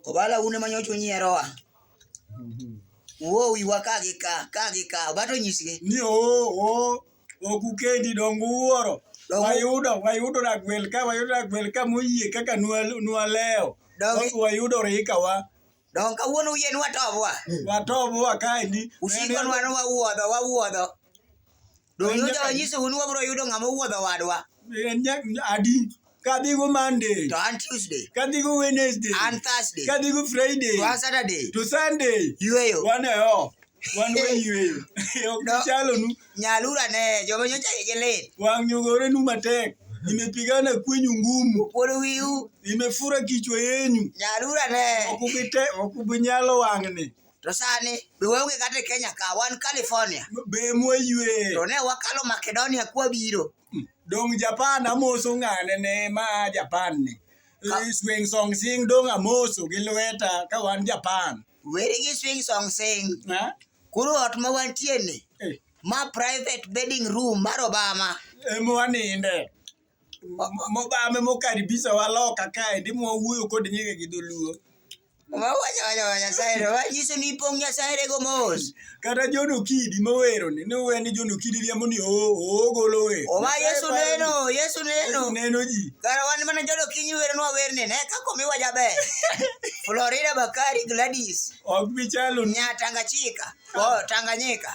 Obala un ema nyocha unyierowa. Uwo wiwa ka gi ka, ka gi ka. Obato nyisgi. Ni oo oo ok ukendi dongo uwuoro. Dongo- Wayudo wayudo ragwel ka wayudo ragwel ka moyie kaka nwa- nwalewo. Dongi- Wayudo rikawa. Dongo kawuono uyie ni watobwa. Watobwa kaendi. Usikonwa ni wawuodho, wawuodho. Donge Donge Ruoth onyisou ni wabiro yudo ng'ama owuodho wadwa? en jak adi kadhigo monday To an Tuesday, kadhigo wednesday an Thursday, kadhigo friday to an Saturday, to sunday yueyo. wan e o wan wayueyo ok No. chalonu Nyalura ne joma nyocha ye lit. wang' nyogorenu matek imepigana kwenyu ngumu Pod wiu, imefura kichwa yenyu nyalura ne. ok ubinyalo wang'ni To sani be waonge kata e Kenya ka wan California. Be mwaywe. To ne wakalo Makedonia kwa biro. Hmm. Dong Japan amoso ng'ane ne ma Japan ni. Eh, swing song sing dong amoso gi lweta ka wan Japan. Weri gi swing song sing. Ha? Kuru ot ma wantie ni. Eh. Ma private bedding room mar Obama. Ema waninde. Mobame mokaribisa waloka kae ndi mwawuoyo kod nyinge gi dholuo. Wawacho wacho wa Nyasaye to wanyiso ni ipong' Nyasaye rego mos. Kata John Okidi mowero ni ne owe ni John Okidi riambo ni oo oo golo we. Owa Yesu neno, Yesu neno. Neno ji. Kara wan mana jodo kinyi wero nwa werne ne ka komiwa jaber. Florida Bakari Gladys. Ok bi chalo ni. Nya Tanganyika. Oh, Tanganyika.